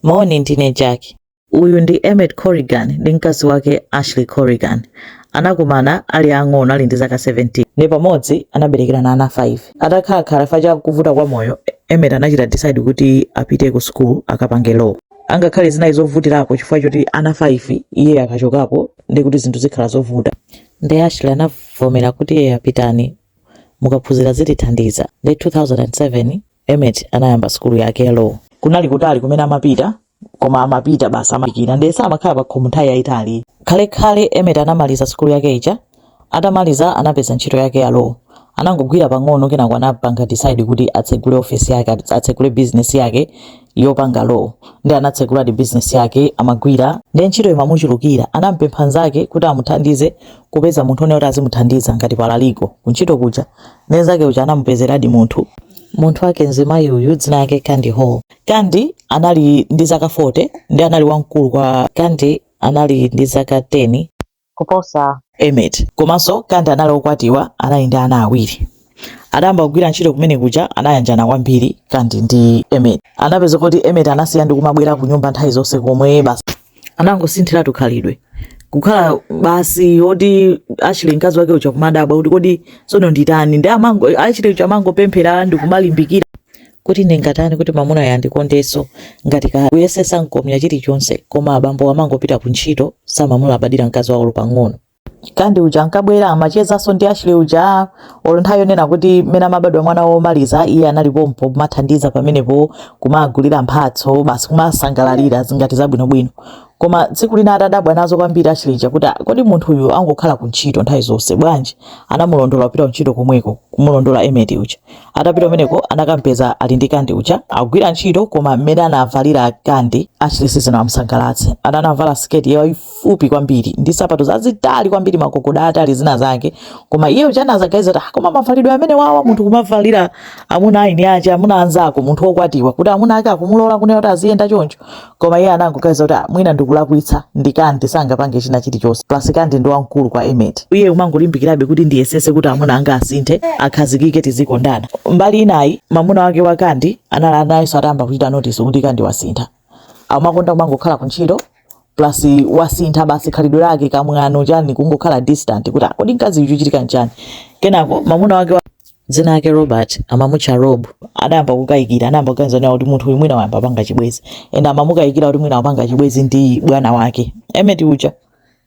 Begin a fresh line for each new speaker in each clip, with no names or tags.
Moni, ndine Jack. Uyu ndi Emmett Corrigan ndi mkazi wake Ashley Corrigan. Anakumana ali ang'ono ali ndi zaka 17 nde pamodzi anaberekerana ana 5. Atakhalakhala chifukwa cha kuvuta kwa moyo, Emmett anachita decide kuti apite ku school akapange law. Angakhale zinali zovutirapo chifukwa choti ana 5 iye akachokapo nde kuti zinthu zikhala zovuta. Nde Ashley anavomera kuti eya pitani mukaphunzira zitithandiza. Nde 2007 Emmett anayamba sukulu yake ya law. Kunali kutali kumene amapita, koma amapita basi amadikira ndiye samakhala pa khomo nthawi yayitali. Khalekhale Emmett anamaliza sukulu yake ija. Atamaliza anapeza ntchito yake ya law. Anangogwira pang'ono kenako anapanga decide kuti atsegule ofesi yake, at- atsegule business yake yopanga law. Nde anatseguladi business yake amagwira. Ndiye ntchito imamuchulukira. Anampempha nzake kuti amuthandize kupeza munthu one kuti azimuthandiza ngati paralegal kuntchito kuja. Mnzake uja anamupezeradi munthu. Munthu wake mzimayi uyu dzina lake Kandi Hall. Kandi anali ndi zaka 40 nde anali wamkulu kwa Kandi anali ndi zaka 10 kuposa Emmett. Komanso Kandi anali okwatiwa anali ndi ana awiri. Atayamba kugwira ntchito kumene kuja anayanjana kwambiri Kandi ndi Emmett. Anapeza kuti Emmett anasiya ndi kumabwera kunyumba nthawi zonse komwe basi anangosinthiratu khalidwe kukhala basi oti Ashley mkazi wake uja kumadabwa kuti kodi tsono nditani nde amango- Ashley uja amangopemphera ndi kumalimbikira kuti ndingatani kuti mamunayu andikondenso ngati kale kuyesetsa nkomya chilichonse koma abambo amangopita ku ntchito samamulabadira mkazi wawo olo pang'ono Kandi uja ankabwera amachezanso ndi Ashley uja olo nthawi yonena kuti mmene amabadwa mwana womaliza iye anali pompo kumathandiza pamenepo kumagulira mphatso basi kumasangalalira zingati zabwinobwino koma tsiku lina atadabwa nazo kwambiri Ashley uja kuti "Ah, kodi munthu uyu angokhala ku ntchito nthawi zonse bwanji anamulondola kupita ku ntchito komweko kumulondola Emmett uja atapita kumeneko anakampeza ali ndi Kandi uja akugwira ntchito koma mmene anavalira Kandi Ashley sizinamusangalatse ana anavala siketi yayi fupi kwambiri ndi sapato zazitali kwambiri magogoda atali zina zake koma iye uja anadzaganiza kuti ah, koma mavalidwe amenewawa munthu kumavalira amuna a eni ake amuna anzako munthu wokwatiwa kuti amuna ake akumulola kunena kuti aziyenda choncho koma iye anangoganiza kuti ah, mwina ndikulakwitsa nde Kandi sangapange china chilichonse plus Kandi ndi wamkulu kwa Emmett iye kumangolimbikirabe kuti ndiyesetse kuti amuna anga asinthe akhazikike tizikondana mbali inayi mamuna wake wa Kandi anali nayenso atayamba kuchita notice kuti Kandi wasintha amakonda kumangokhala ku ntchito plus wasintha basi khalidwe lake kamwano chani kungokhala distant kuti "Ah, kodi mkazi uyu chikuchitika nchani kenako mamuna wake wa dzina lake Robert amamutcha Rob adayamba kukayikira anayamba kuganiza nawo kuti munthu uyu mwina wayamba wapanga chibwezi and amamukayikira kuti mwina wapanga chibwezi ndi bwana wake Emmett uja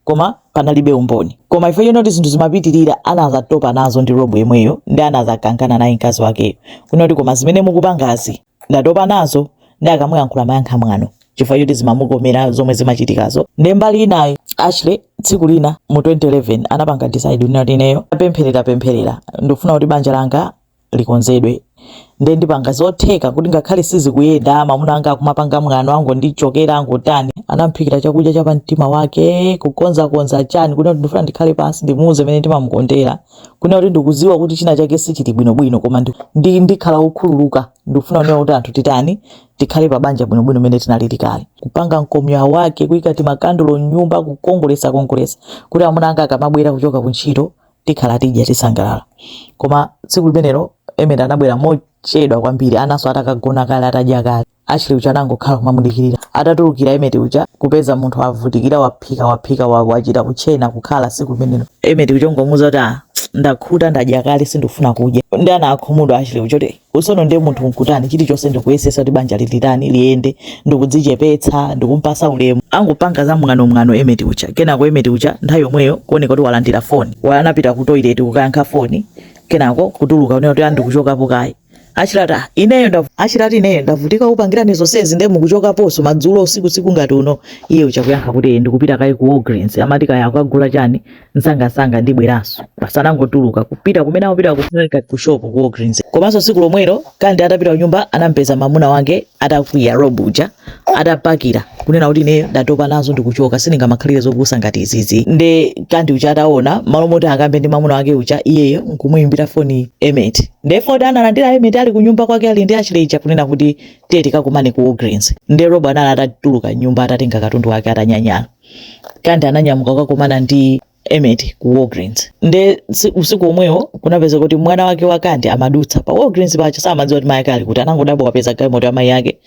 koma panalibe umboni koma chifukwa chonoti zinthu zimapitirira anazatopa nazo ndi rob yemweyo nde anazakangana naye mkazi wakeyo kunena kuti koma zimene mukupangazi ndatopa nazo nde akamuyankhula amayankha mwano chifukwa choti zimamukomera zomwe zimachitikazo nde mbali inayi ashley tsiku lina mu 2011 anapanga decide kuti ineyo napemphera pemphera ndikufuna kuti banja langa likonzedwe nde ndipanga zotheka kuti ngakhale sizikuyenda mamuna anga akumapanga mwano angondichokera angotani anamuphikira chakudya cha pamtima wake kukonzakonza chani kunena kuti ndifuna ndikhale pansi ndimuuze mene ndimamukondera kunena kuti ndikuziwa kuti china chake sichili bwinobwino koma ndi- ndi- ndikhala wokhululuka ndikufuna kunena kuti atleast titani tikhale pa banja bwinobwino mene tinalili kale kupanga mkomya wake kuyika timakandulo mnyumba kukongolesa kongolesa kuti amuna anga akamabwera kuchoka ku ntchito tikhala tidya tisangalala koma tsiku limenelo Emmet anabwera mochedwa kwambiri ana onse atakagona kale atadya kale Ashley uja anangokhala kumamudikirira atatulukira Emmet uja kupeza munthu avutikira waphika waphika wa- wachita kutchena kukhala tsiku limenelo Emmet uja kungomuuza kuti ah, ndakhuta ndadya kale sindikufuna kudya nde anakhumudwa Ashley uja kuti Usono ndiye munthu nkutani chilichonse ndikuyesesa kuti banja lilitani liyende ndikudzichepetsa ndikumpasa ulemu angopanga za mwano mwano emet uja kenako emet uja nthawi yomweyo kuoneka kuti walandira foni anapita ku toilet kukayankha foni kenako kutuluka kunena kuti a ndikuchokapo kaye ashley ati ineyo ndavu ashley ati ineyo ndavutika kupangirani zonsezi ndiye mukuchokaponso madzulo usiku usiku ngati uno iye uja kuyankha kuti ndikupita kaye ku Walgreens amati kaya akagula chani msangamsanga ndibweranso basi anangotuluka kupita kumene amapita kuja ku shop ku Walgreens komanso tsiku lomwelo kandi atapita kunyumba anampeza mamuna wake atakwiya rob uja atapakira kunena kuti ine ndatopa nazo ndikuchoka sindingamakhalire zopusa ngati izizi nde kandi uja ataona mmalo moti akambe ndi mamuna wake uja iyeyo nkumuyimbira foni emet nde foni analandira emet ali kunyumba kwake ali ndi ashley uja kunena kuti tiye tikakumane ku Walgreens nde rob anali atatuluka mnyumba atatenga katundu wake atanyanyala Kandi ananyamuka kukakumana ndi Emmet ku Walgreens nde usiku omwewo kunapezeka kuti mwana wake wa Kandi amadutsa pa Walgreens paja samadziwa kuti mayi ake ali kuti anangodabwa wapeza galimoto ya mayi ake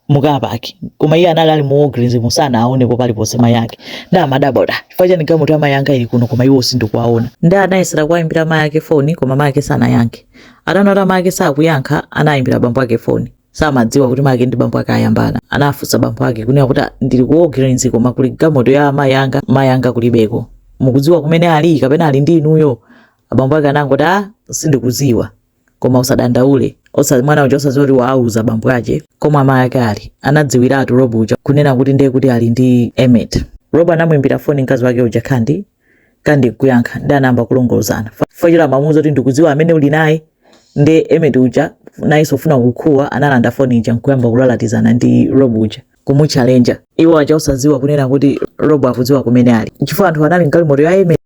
mu car park koma iye analowa mu Walgreens muja sanawaonepo paliponse mayi ake nde amadabwa kuti chifukwa chani galimoto ya mayi anga ili kuno koma iwo sindikuwaona nde anayesera kuwayimbira mayi ake foni koma mayi ake sanayankhe ataona mayi ake sakuyankha anayimbira bambo ake foni samadziwa kuti mayi ake ndi bambo ake ayambana anafunsa bambo ake kunena kuti "Ah, ndili ku Walgreens koma kuli galimoto ya mayi anga mayi anga kulibeko mukudziwa kumene ali kapena ali ndi inuyo abambo ake anangoti a sindikudziwa koma usadandaule osa mwana uja osadziwa kuti waauza bambo ake komwe amayi ake ali anadziwiratu rob uja kunena kuti ndiye kuti ali ndi emet rob anamuimbira foni mkazi wake uja kandi kandi kuyankha ndi anayamba kulongolozana fachira amamuuza kuti ndikudziwa amene uli naye ndi emeti uja nayenso kufuna kukuwa analanda foni ija nkuyamba kulalatizana ndi rob uja kumuchalenja iwo aja osadziwa kunena kuti rob akudziwa kumene ali chifukwa anthu anali mgalimoto ya emeti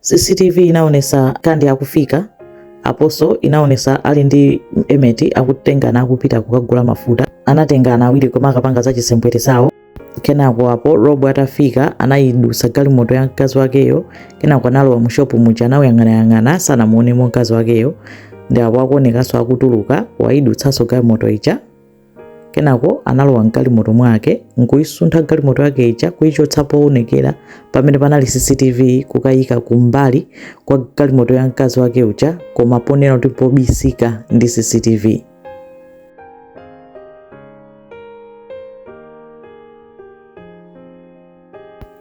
CCTV inaonesa Kandi akufika aposo inaonesa ali ndi Emeti akutengana akupita kukagula mafuta. Anatengana awiri koma akapanga za chisembwere zawo. Kenako apo Rob atafika anayidutsa galimoto ya mkazi wakeyo, kenako analowa mu shop muja anawuyang'anayang'ana sanamuonemo mkazi wakeyo. Ndi apo akuonekanso akutuluka wayidutsanso galimoto ija kenako analowa mgalimoto mwake nkuyisuntha galimoto yake ija kuyichotsa poonekera pamene panali cctv kukayika kumbali kwa galimoto ya mkazi wake uja koma ponena kuti pobisika ndi cctv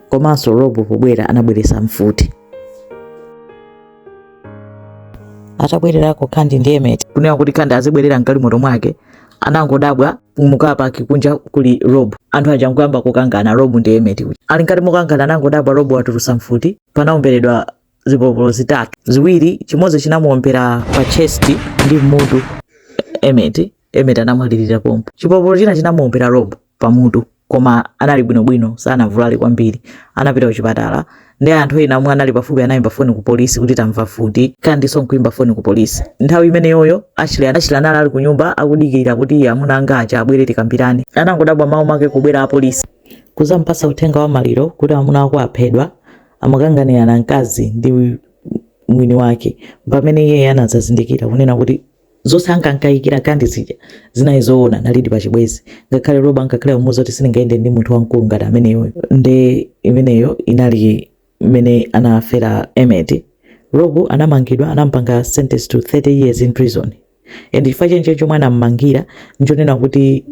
komanso rob pobwera anabweretsa mfuti atabwererako kandi ndi emeti kunena kuti kandi azibwerera mgalimoto mwake anangodabwa mu car park kunja kuli rob anthu aja nkuyamba kukangana rob ndi emeti uja ali ngati mukangana anangodabwa rob watulusa mfuti panaomberedwa zipolopolo zitatu ziwiri chimodzi chinamuombera pa chest ndi mutu emeti emeti anamwalirira pompo chipolopolo china chinamuombera rob pa mutu koma anali bwinobwino sanavulale kwambiri anapita kuchipatala ndi anthu ena omwe anali pafupi anayimba foni ku polisi kuti tamva mfuti kandiso nkuyimba foni ku polisi nthawi imeneyoyo ashley ashley anali ali kunyumba akudikira kuti amuna anga aja abwere tikambirane anangodabwa mmawa mwake kubwera apolisi kuzampasa uthenga wa maliro kuti amuna ako aphedwa amakanganirana mkazi ndi mwini wake pamene iye anadzazindikira kunena kuti zonse ankankayikira kandi zija zinali zoona nalidi pa chibwezi ngakhale rob ankakhala akumuuza kuti sindingayende ndi munthu wamkulu ngati ameneyoyo nde imeneyo imfa imene anafera emeti rob anamangidwa anampanga sentence to 30 years in prison and chifukwa chenicheni chomwe anammangira nchonena kuti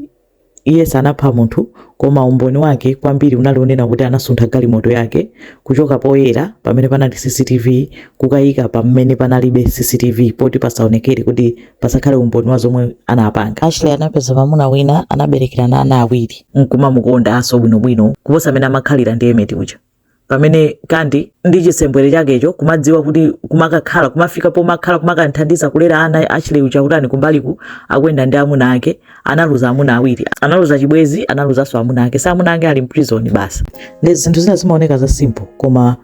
Iye sanapha munthu, koma umboni wake kwambiri unali wonena kuti anasuntha galimoto yake kuchoka poyera pamene panali CCTV kukayika pamene panalibe CCTV poti pasaonekere kuti pasakhale umboni wa zomwe anapanga. Ashley anapeza mamuna wina anaberekerana ana awiri. nkumamukondanso bwinobwino kuposa mmene amakhalira ndi Emmet uja. pamene kandi ndi chisembwere chakecho kumadziwa kuti kumakakhala kumafika pomakhala kumakathandiza kulera ana ashley uja kutani kumbaliku akuyenda ndi amuna ake analuza amuna awiri analuza chibwezi analuzanso amuna ake so amuna ake ali mprison basi ndi zinthu zina zimaoneka za simple koma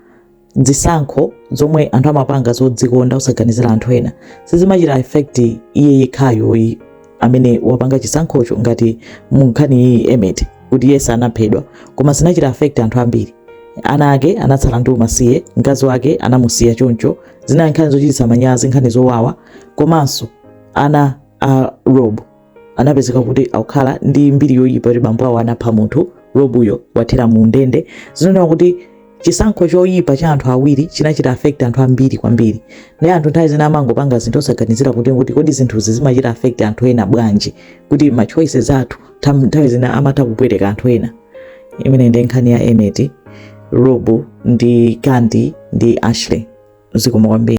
zisankho zomwe anthu amapanga zodzikonda osaganizira anthu ena sizimachita effect iye yekhayoyi amene wapanga chisankhocho ngati mu nkhani iyi emmett kuti iyeyo anaphedwa koma zinachita affect anthu ambiri ana ake anatsala ndi umasiye mkazi wake anamusiya choncho zinali nkhani zochititsa manyazi nkhani zowawa komanso ana a rob anapezeka kuti akukhala ndi mbiri yoyipa kuti bambo awo anapha munthu rob uyo wathera mu ndende zinonena kuti chisankho choyipa cha anthu awiri chinachita affect anthu ambiri kwambiri ndiye anthu nthawi zina amangopanga zinthu osaganizira kuti kuti kodi zinthuzi zimachita affect anthu ena bwanji kuti ma choices athu tam- nthawi zina amatha kupweteka anthu ena imeneyi ndi nkhani ya emmett rob ndi kandi ndi ashley zikomo kwambiri